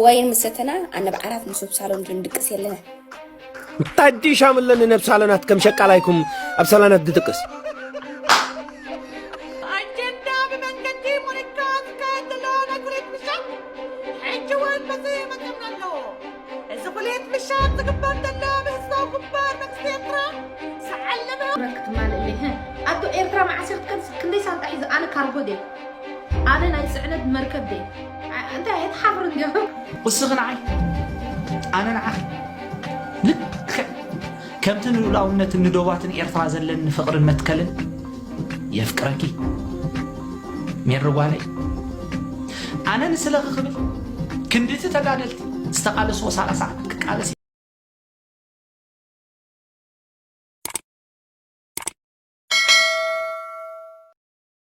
ዋይን ምስ ሰተና ኣነብ ዓራት ንሱብ ሳሎን ጌም ድቅስ የለነ ታዲ ሻምለን ነብ ሳሎናት ከም ሸቃላይኩም ኣብ ሳሎናት ድጥቅስ ኣቶ ኤርትራ መዓስ ክንደይ ሳንጣ ሒዘ ኣነ ካርጎ ድየ ኣነ ናይ ጽዕነት መርከብ ደይ እንታይ ኣይትሓፍርን እንዲዮ ቁስኺ ንዓይ ኣነ ንዓኺ ልክዕ ከምቲ ንሉእላውነትን ንዶባትን ኤርትራ ዘለኒ ፍቕርን መትከልን የፍቅረኪ ሜሪ ጓለይ ኣነ ንስለኺ ክብል ክንድቲ ተጋደልቲ ዝተቃለስዎ ሰላሳ ዓመት ክቃለስ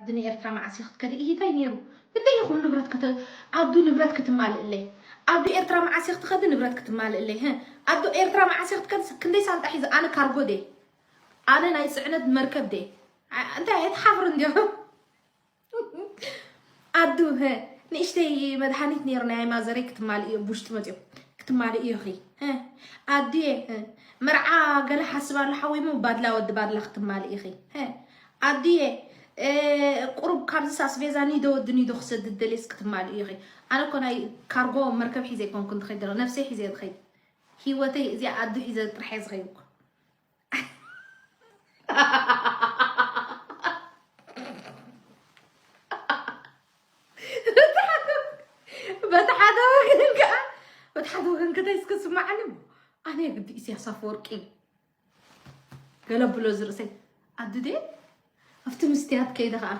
ዓዲ ንኤርትራ መዓስ ኢዩ ክትከዲ ኢሂታይ ኔሩ ክንደይ ይኩን ንብረት ክተ ኣዱ ንብረት ክትማልእለይ ኣዱ ኤርትራ መዓስ ኢዩ ክትከዲ ንብረት ክትማልእለይ ህህ ኣዱ ኤርትራ መዓስ ኢዩ ክትከዲ ክንደይ ሳንጣ ሒዘ ኣነ ካርጎ ድየ ኣነ ናይ ጽዕነት መርከብ ድየ እንታይ ኣይትሓፍርን ድዮም ኣዱ ህ ንእሽተይ መድሃኒት ኔሩ ናይ ማዘረይ ክትማልእ ኢዮ ቡሽጢ መጽዮ ክትማልእ ኢዮ ኺ ኣዱየ መርዓ ገለ ሓስብ ኣሎ ሓወይ ሞ ባድላ ወዲ ባድላ ክትማልእ ኢኺ ኣዱየ ቁሩብ ካብዝስ ኣስቤዛ ኒዶ ወዲ ኒዶ ክሰድድ ደልየስ ክትማልኢ ኢኺ ኣነ እኮ ናይ ካርጎ መርከብ ሒዘ ኣይኮንኩን ዝኸይድ ዘለኹ ነብሰይ ሒዘ እየ ዝኸይድ ሂወተይ እዚኣ ኣዱ ሒዘ ጥራሕ እየ ዝኸይድ እኮ በቲ ሓደ ወገን ከዓ በቲ ሓደ ወገን ከተይስ ክስማዓኒ ኣነ ግዲ ኢሳያስ ኣፈወርቂ እዩ ገለ ብሎ እዚ ርእሰይ ኣዲ ድየ ኣብቲ ምስትያት ከይደ ከዓ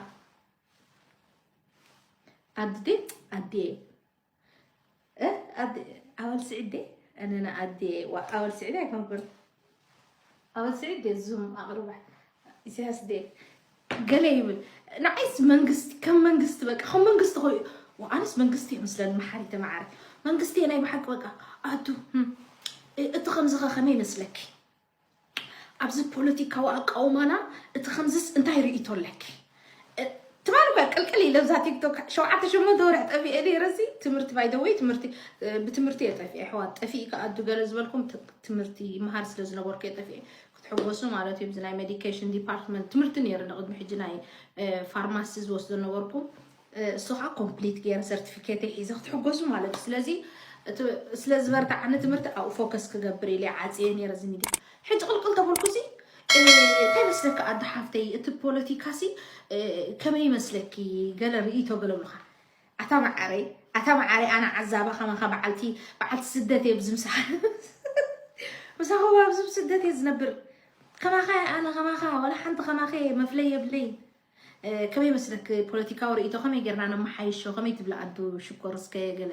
ኣዲ ድየ ኣዲየ ኣወል ስዒድ ድየ ኣነና ኣዲየ ኣወል ስዒድ ኣይኮንኩን ኣወል ስዒድ ድየ ዙም ኣቕርባ ኢሳያስ ዴ ገለ ይብል ንዓይስ መንግስቲ ከም መንግስቲ በቃ ከም መንግስቲ ኮይ ኣነስ መንግስቲ እየ ምስለኒ መሓሪ ተመዓሪ መንግስቲ እየ ናይ ብሓቂ በቃ ኣቱ እቲ ከምዚ ከ ከመይ ይመስለኪ ኣብዚ ፖለቲካዊ ኣቃውማና እቲ ከምዚስ እንታይ ርእይቶ ኣለኪ ትማል እኳ ቅልቅል ኢለ ብዛ ቲክቶክ ሸውዓተ ሸሞንተ ወርሒ ጠፊኤ ነይረሲ ትምህርቲ ባይደወይ ትምህርቲ ብትምህርቲ እየ ጠፊኤ ኣሕዋት ጠፊእ ከኣ ኣዱ ገለ ዝበልኩም ትምህርቲ ይመሃር ስለ ዝነበርኩ እየ ጠፊኤ ክትሕጎሱ ማለት እዩ። እዚ ናይ ሜዲኬሽን ዲፓርትመንት ትምህርቲ ነይሩ ንቅድሚ ሕጂ ናይ ፋርማሲ ዝወስዶ ነበርኩ። እሱ ከዓ ኮምፕሊት ገይረ ሰርቲፊኬት ሒዘ ክትሕጎሱ ማለት እዩ። ስለዚ እቲ ስለ ዝበርትዓኒ ትምህርቲ ኣብኡ ፎከስ ክገብር ኢለ ዓፅየ ነይረ እዚ ሚድያ ሕጂ ቅልቅል ተበልኩሲ እ፣ እንታይ መስለኪ ኣደ ሓፍተይ እቲ ፖለቲካሲ እ፣ ከመይ ይመስለኪ ገለ ርእይቶ ገለ ብሉካ ኣታ ማዓረይ ኣታ ማዓረይ ኣነ ዓዛባ ከማካ ባዓልቲ ባዓልቲ ስደት እየ ብዚ ምሳካ ኣብዚ ስደት እየ ዝነብር ከማካ ኣነ ከማካ ወላ ሓንቲ ከማከ መፍለይ የብለይ ከመይ መስለክ ፖለቲካዊ ርእይቶ ከመይ ጌርና ነመሓይሾ ከመይ ትብላ ኣንቱ ሽኮር እስከ ገለ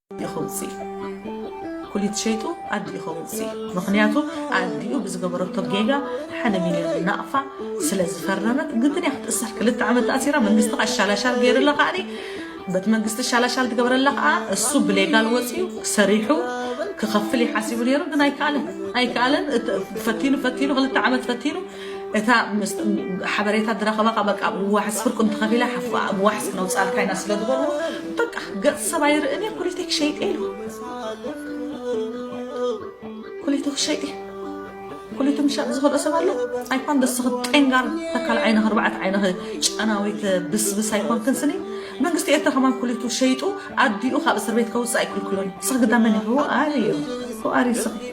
ይኸውፅእ እዩ ኩሊት ሸይጡ ኣዲኡ ይኸውፅእ እዩ ምክንያቱ ኣዲኡ ብዝገበረቶ ጌጋ ሓደ ሚልዮን ናቕፋ ስለ ዝፈረመት ግድን እያ ክትእሰር ክልተ ዓመት ተኣሲራ መንግስቲ ከዓ ሻላሻል ገይርላ ከዓ በቲ መንግስቲ ሻላሻል ትገበረላ ከዓ እሱ ብሌጋል ወፅኡ ሰሪሑ ክኸፍል ይሓሲቡ ነይሩ ግን ኣይከኣለን ኣይከኣለን ፈቲኑ ፈቲኑ ክልተ ዓመት ፈቲኑ እታ ሓበሬታ ድረኸባ ካ በቃ ብዋሕስ ፍርቁ እንተኸፊላ ሓፋ ብዋሕስ ክነውፃልካ ኢና ስለ ዝበልዎ በቃ ገፅ ሰብ ኣይርእን እየ ኩሊተይ ክሸይጥ ኢሉ ኩሊቱ ክሸይጥ ኩሊቱ ምሻጥ ዝኽእሎ ሰብ ኣሎ ኣይኮን ደስኽ ጤንጋር ተካል ዓይነ ክርባዕት ዓይነ ጨናዊት ብስብስ ኣይኮንክን ስኒ መንግስቲ ኤርትራ ከማን ኩሊቱ ሸይጡ ኣዲኡ ካብ እስር ቤት ከውፅእ ኣይክልክሎን ስኽ ግዳመን ይህቡ ኣዩ ኩኣሪ ስኽ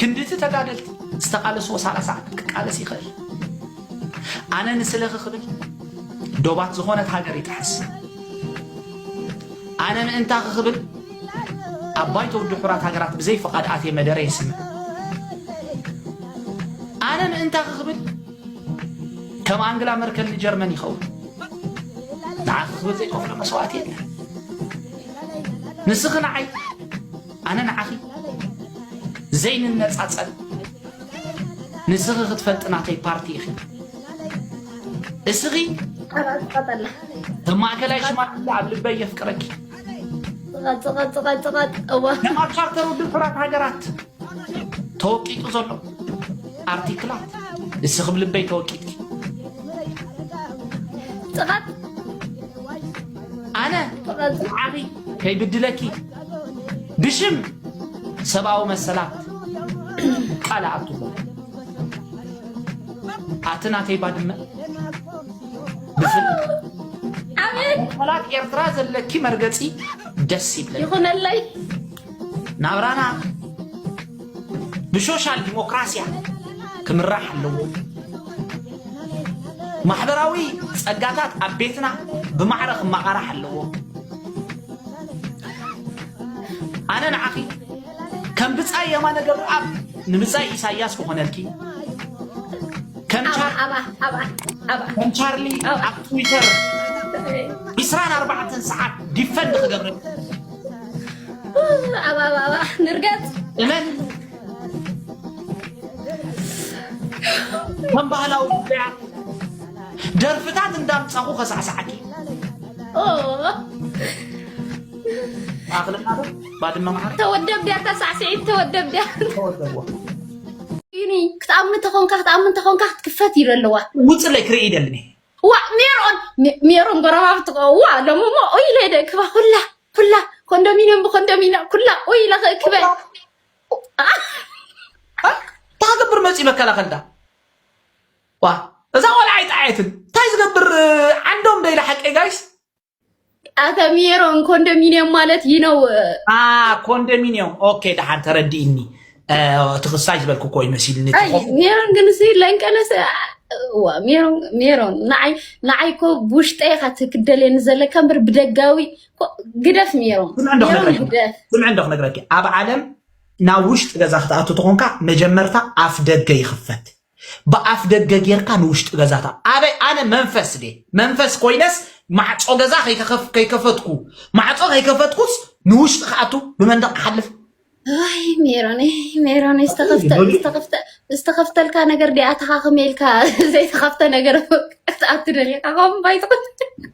ክንድቲ ተጋደልቲ ዝተቃለስዎ ሳላሳ ዓመት ክቃለስ ይኽእል ኣነ ንስለኺ ክብል ዶባት ዝኾነት ሃገር ይጥሕስ ኣነ ምእንታኺ ክብል ኣብ ባይቶ ውድብ ሕቡራት ሃገራት ብዘይ ፍቓድ ኣትየ መደረ የስምዕ ኣነ ምእንታኺ ክብል ከም ኣንግላ መርከል ንጀርመን ይኸውን ንዓኺ ክብል ዘይከፍሎ መስዋእቲ የለን ንስኺ ንዓይ ኣነ ንዓኺ ዘይንነጻጸል ንስኺ ክትፈልጢ ናተይ ፓርቲ ኢኺ እስኺ ከም ማእከላይ ሽማግለ ኣብ ልበይ የፍቅረኪ ኣብ ቻርተር ውድብ ሕራት ሃገራት ተወቂጡ ዘሎ ኣርቲክላት እስኺ ብ ልበይ ተወቂጥኪ ኣነ ዓኺ ከይብድለኪ ብሽም ሰብኣዊ መሰላት ቃል ኣኣትዎ ኣቲ ናተይ ባድመ ብፍላት ኤርትራ ዘለኪ መርገፂ ደስ ይብለ ይኹነለይ ናብራና ብሶሻል ዲሞክራሲያ ክምራሕ ኣለዎ ማሕበራዊ ፀጋታት ኣብ ቤትና ብማዕረ ክመቓራሕ ኣለዎ ኣነ ንዓኺ ከም ብጻይ የማነ ገብረኣብ ንብጻይ ኢሳያስ ክኾነልኪ ከም ቻርሊ ኣብ ትዊተር 24 ሰዓት ዲፈንድ ክገብረልኪ ንርገጽ እመን ከም ባህላዊ ጉዳያት ደርፍታት እንዳምጻኹ ከሳዕሳዓኪ ተወደብ ድያ ተሳዕስዒት ተወደብ ድያ ይኒ ክትኣምን እንተኾንካ ክትኣምን እንተኾንካ ክትክፈት ኢሉ ኣለዋ ውፅለይ ክርኢ ደልኒ ዋ ሜሮን ሜሮን ጎረባብቲ ዋ ሎሚ እሞ ኡይ ኢለ ደክባ ኩላ ኩላ ኮንዶሚኒየም ብኮንዶሚኒየም ኩላ ኡይ ኢለ ክእክበ ታገብር መፅኡ መከላኸልዳ ዋ እዛ ቆልዓ ኣይጠዓየትን እንታይ ዝገብር ዓንዶም ደይለ ሓቂ ጋይስ ኣተሚሮን ኮንዶሚኒየም ማለት ይህ ነው። ኮንዶሚኒየም ኦኬ፣ ደሓን ተረዲእኒ። እቲ ክሳሽ ዝበልኩ ኮይ መሲልኒ። ሜሮን ግን ሲ ለንቀለሰ ሜሮን ሜሮን ንዓይ ንዓይ እኮ ብውሽጠይ ኢኻ ትክደልየኒ ዘለካ እምበር ብደጋዊ ግደፍ ሜሮን ስምዕ እንዶ ክነግረኪ ኣብ ዓለም ናብ ውሽጢ ገዛ ክትኣቱ ተኾንካ መጀመርታ ኣፍ ደገ ይኽፈት ብኣፍ ደገ ጌርካ ንውሽጢ ገዛታ ኣበይ ኣነ መንፈስ ድየ መንፈስ ኮይነስ ማዕጾ ገዛ ከይከኸፍ ከይከፈትኩ ማዕጾ ከይከፈትኩስ ንውሽጢ ክኣቱ ብመንደቕ ክሓልፍ ኣይ ሜሮነይ ሜሮነይ ዝተኸፍተ ይበሉ ዝተኸፍተ ዝተኸፍተልካ ነገር ዲኣ ተኻኽመ ኢልካ ዘይተኸፍተ ነገር ክትኣቱ ደሊኻ ከም ባይትኹን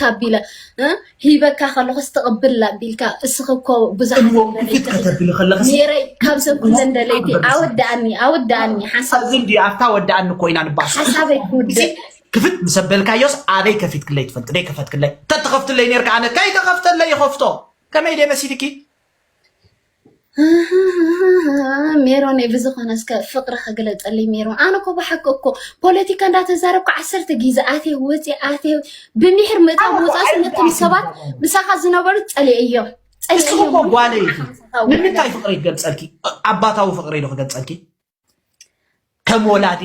ታቢለ ሂበካ ከለኩ ስተቅብል ኣቢልካ እስኺ እኮ ብዙሓትሜረይ ካብ ሰብ ኩለን ደለይቲ ኣወዳኣኒ ኣወዳኣኒ ሓሳብዚ እንዲ ኣብታ ወዳኣኒ እኮ ኢና ንባስ ሓሳበይ ክውድእ ክፍት ምስ ኣበልካዮስ ኣበይ ከፊት ክለይ ትፈልጥ ደይ ከፈት ክለይ ተተኸፍትለይ ነርካ ኣነ ከይተኸፍተለይ ይኸፍቶ ከመይ ደይ መሲልኪ ሜሮን ብዝኾነ እስከ ፍቅሪ ክግለፀልይ ሜሮን ኣነ እኮ ብሓቂ እኮ ፖለቲካ እንዳተዛረብኩ ዓሰርተ ግዜ ኣትየ ወፂ ኣትየ ብሚሕር ምእታው ምውፃእ ስለቶም ሰባት ምሳኻ ዝነበሩ ፀሊእ እዮም ንስኹ እኮ ጓለ ኢኺ ንምንታይ ፍቅሪ ክገልፀልኪ ኣባታዊ ፍቅሪ ኢሉ ክገልፀልኪ ከም ወላዲ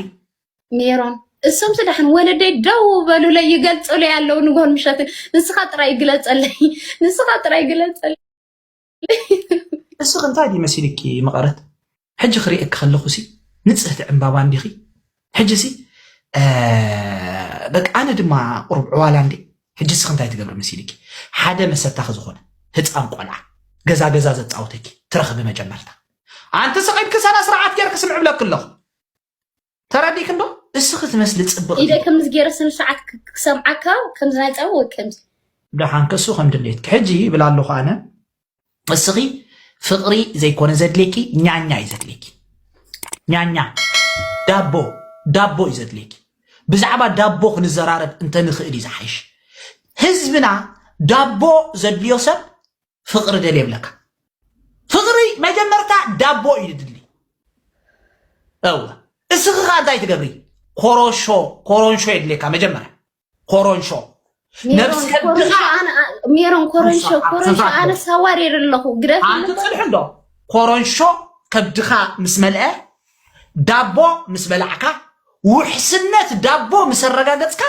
ሜሮን እሶም ስዳሕን ወለደይ ደው በሉለይ ይገልፅሉ ያለው ንጎን ምሸትን ንስኻ ጥራይ ግለፀለይ ንስኻ ጥራይ ግለፀለይ እስኺ እንታይ ድዩ መሲልኪ መቐረት ሕጂ ክርእየኪ ከለኹሲ ንጽህቲ ዕምባባ እንዲኺ ሕጂሲ በቃ ኣነ ድማ ቁሩብ ዕዋላ እንዴ ሕጂ እስኺ እንታይ ትገብሪ መሲልኪ ሓደ መሰታኺ ዝኾነ ህፃን ቆልዓ ገዛ ገዛ ዘፃውተኪ ትረኽቢ መጀመርታ ኣንቲ ስቂድኪ ሰነ ስርዓት ጌርኪ ስምዕ ብለኪ ኣለኹ ተረዲክንዶ እስኺ ትመስሊ ፅብቅ ኢደ ከምዚ ገይረ ስነ ስርዓት ክሰምዓካ ከምዚ ናይ ፀባ ወይ ከምዚ ደሓን ከሱ ከም ድሌትኪ ሕጂ ይብል ኣለኹ ኣነ እስኺ ፍቅሪ ዘይኮነ ዘድልየኪ ኛኛ እዩ ዘድልየኪ ኛኛ ዳቦ ዳቦ እዩ ዘድልየኪ ብዛዕባ ዳቦ ክንዘራረብ እንተንኽእል እዩ ዝሓይሽ ህዝብና ዳቦ ዘድልዮ ሰብ ፍቅሪ ደል የብለካ ፍቅሪ መጀመርታ ዳቦ እዩ ድድሊ እወ እስኺ ከዓ እንታይ ትገብሪ ኮሮሾ ኮሮንሾ የድልየካ መጀመርያ ኮሮንሾ ነብስ ከድኻ ሜሮን ኮሮንሾ ኮሮንሾ ኣነ ሳዋሪር ኣለኹ ግደፍ ኣንቲ ፅልሑ እንዶ ኮሮንሾ ከብድኻ ምስ መልአ ዳቦ ምስ በላዕካ ውሕስነት ዳቦ ምስ ኣረጋገፅካ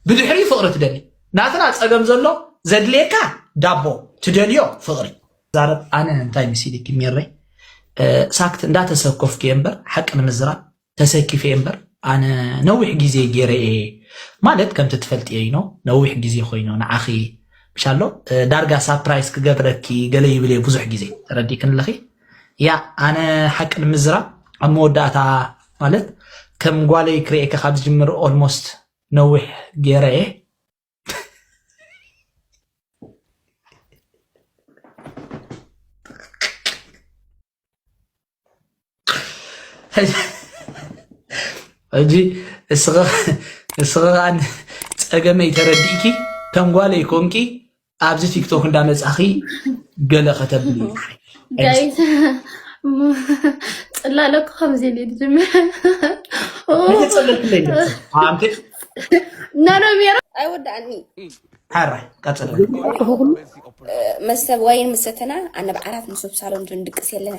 ብድሕሪኡ ፍቕሪ ትደሊ ናትና ጸገም ዘሎ ዘድልየካ ዳቦ ትደልዮ ፍቕሪ ዛረብ ኣነ እንታይ መሲልኪ ሜረይ ሳክት እንዳተሰኮፍኩ እየ እምበር ሓቂ ንምዝራብ ተሰኪፈ እየ እምበር ኣነ ነዊሕ ግዜ ገይረ እየ ማለት ከምቲ ትፈልጥ እየ ኢኖ ነዊሕ ግዜ ኮይኑ ንዓኺ ምሻሎ ዳርጋ ሳፕራይስ ክገብረኪ ገለ ይብል እየ ብዙሕ ግዜ ተረዲክን ኣለኺ ያእ ኣነ ሓቂ ንምዝራብ ኣብ መወዳእታ ማለት ከም ጓለይ ክርኤካ ካብ ዝጅምር ኦልሞስት ነዊሕ ጌረ እየ ሕጂ እስኺ ከኣ ጸገመይ ተረዲእኪ ከም ጓለይ ኮንኪ ኣብዚ ቲክቶክ እንዳመጻኺ ገለ ከተብሉ ጋይስ ጽላለኩ ከምዚ ኢሉ ዝጅምር ነሮሜሮ ኣይወዳእኒ ሓራ ቀጽለ መስተብ ዋይን ምሰተና ኣነብ ዓራት ንሱብ ሳሎን ድንድቅስ የለነ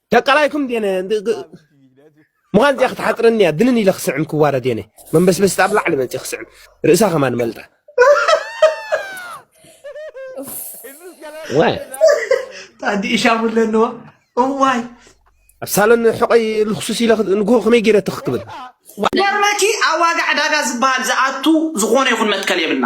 ደቃላይኩም ዴነ ምዃን እዚኣ ክትሓፅረኒ እያ ድንን ኢለ ክስዕም ክዋረድ የነ መንበስበስቲ ኣብ ላዕሊ መፅእ ክስዕም ርእሳ ከማ ንመልጣ ዋይ ታዲ እሻሙ ኣለንዎ እዋይ ኣብ ሳሎን ሕቆይ ልክሱስ ኢለ ንግሆ ከመይ ገይረ ትኽክብል ገርመኪ ኣብ ዋጋ ዕዳጋ ዝበሃል ዝኣቱ ዝኾነ ይኹን መትከል የብልና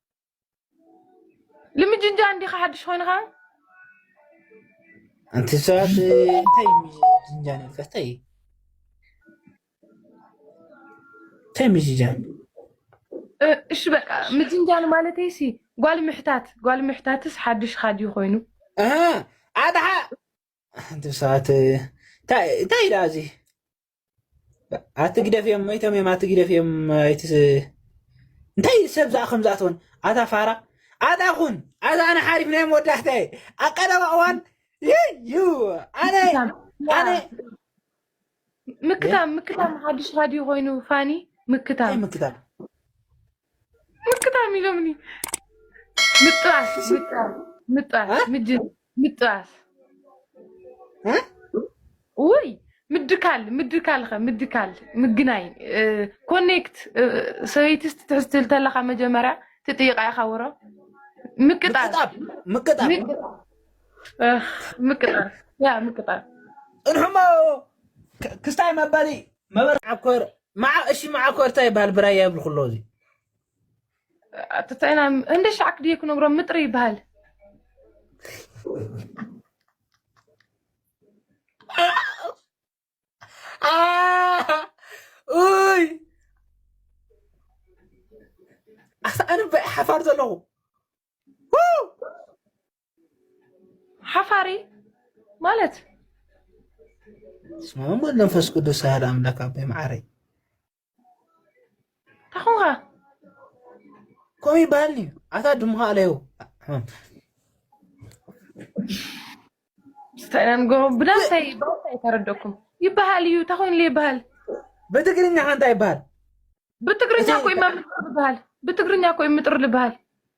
ልምጅንጃን ዲኻ ሓድሽ ኮይንኻ ኣንቲ ሰባት እንታይ ምጅንጃን እዮም ፈተይ እንታይ ምጅንጃን እሺ በቃ ምጅንጃን ማለተይ ሲ ጓል ምሕታት ጓል ምሕታትስ ሓድሽ ኻዲ ኮይኑ ኣድሓ ኣንቲ ሰባት እንታይ ደኣ እዚ ኣትግደፍ እዮም መይቶም እዮም ኣትግደፍ እዮም ኣይት እንታይ ሰብ ዝኣ ከም ዝኣትወን ኣታ ፋራ ኣታ ኩን ኣታ ኣነ ሓሪፍ ናይ መወዳእታ እየ ኣብ ቀረባ እዋን እዩ ኣነ ኣነ ምክታም ምክታም ሓድሽ ሃድዩ ኮይኑ ፋኒ እንታይ ምክታም ምክታም ሙልክታም ኢሎምኒ ምጥባስ ምጥባስ ምጅ ምጥባስ ውይ ምድካል ምድካል ኸ ምድካል ምግናይ ኮኔክት ሰበይቲ ትሕዝቲ እንተለካ መጀመርያ ትጥይቃ ኢኻ ወሮ ምቅጣር ምቅጣብ ምቅጣብ ምቅጣር ያ ምቅጣር ፅንሑሞ ክ- ክስታይ መበሊ መበርዓኮር ማዓ እሺ ማዓኮር ታይ ይባሃል ብራያ ይብል ኩሎ እዚ ኣተታይና እንደ ሻዕ ክድየ ክነግሮም ምጥሪ ይባሃል ኡይ ኣነ ሓፋር ዘለኹ ሓፋሪ ማለት ስሙ ወልድ መንፈስ ቅዱስ ኣህድ ኣምላክ ኣቦይ መዓረይ ታኹንኻ ከምኡ ይበሃል እዩ ኣታ ድምኻ ኣለዩ ብዳንታይ ተረደኩም ይበሃል እዩ ታኹይንለ ይበሃል ብትግርኛ ሓንታ ይበሃል ብትግርኛ ኮይ ይበሃል ብትግርኛ ኮይ ምጥር ልበሃል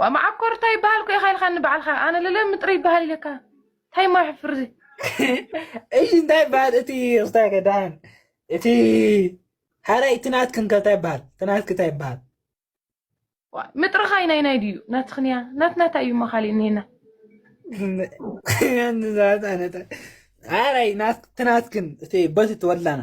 ዋእ መዓኮር እንታይ ይበሃል ኮ ኢኻ ኢልካኒ ባዕልካ ኣነ ልለሚ ጥሪ ይበሃል ኢለካ እንታይ ሞ ሕፍር እዚ እሺ እንታይ ይበሃል እቲ ክስታይ ከዳን እቲ ሓራይ እቲ ናትክን ከ እንታይ ይበሃል እቲ ናትክ እንታይ ይበሃል ዋእ ምጥርኻ ናይ ናይ ድዩ ናትኽንያ ናት ናታ እዩ እሞ ካሊእ እኒሄና ሓራይ እቲ ናትክን እቲ በቲ ትወድላና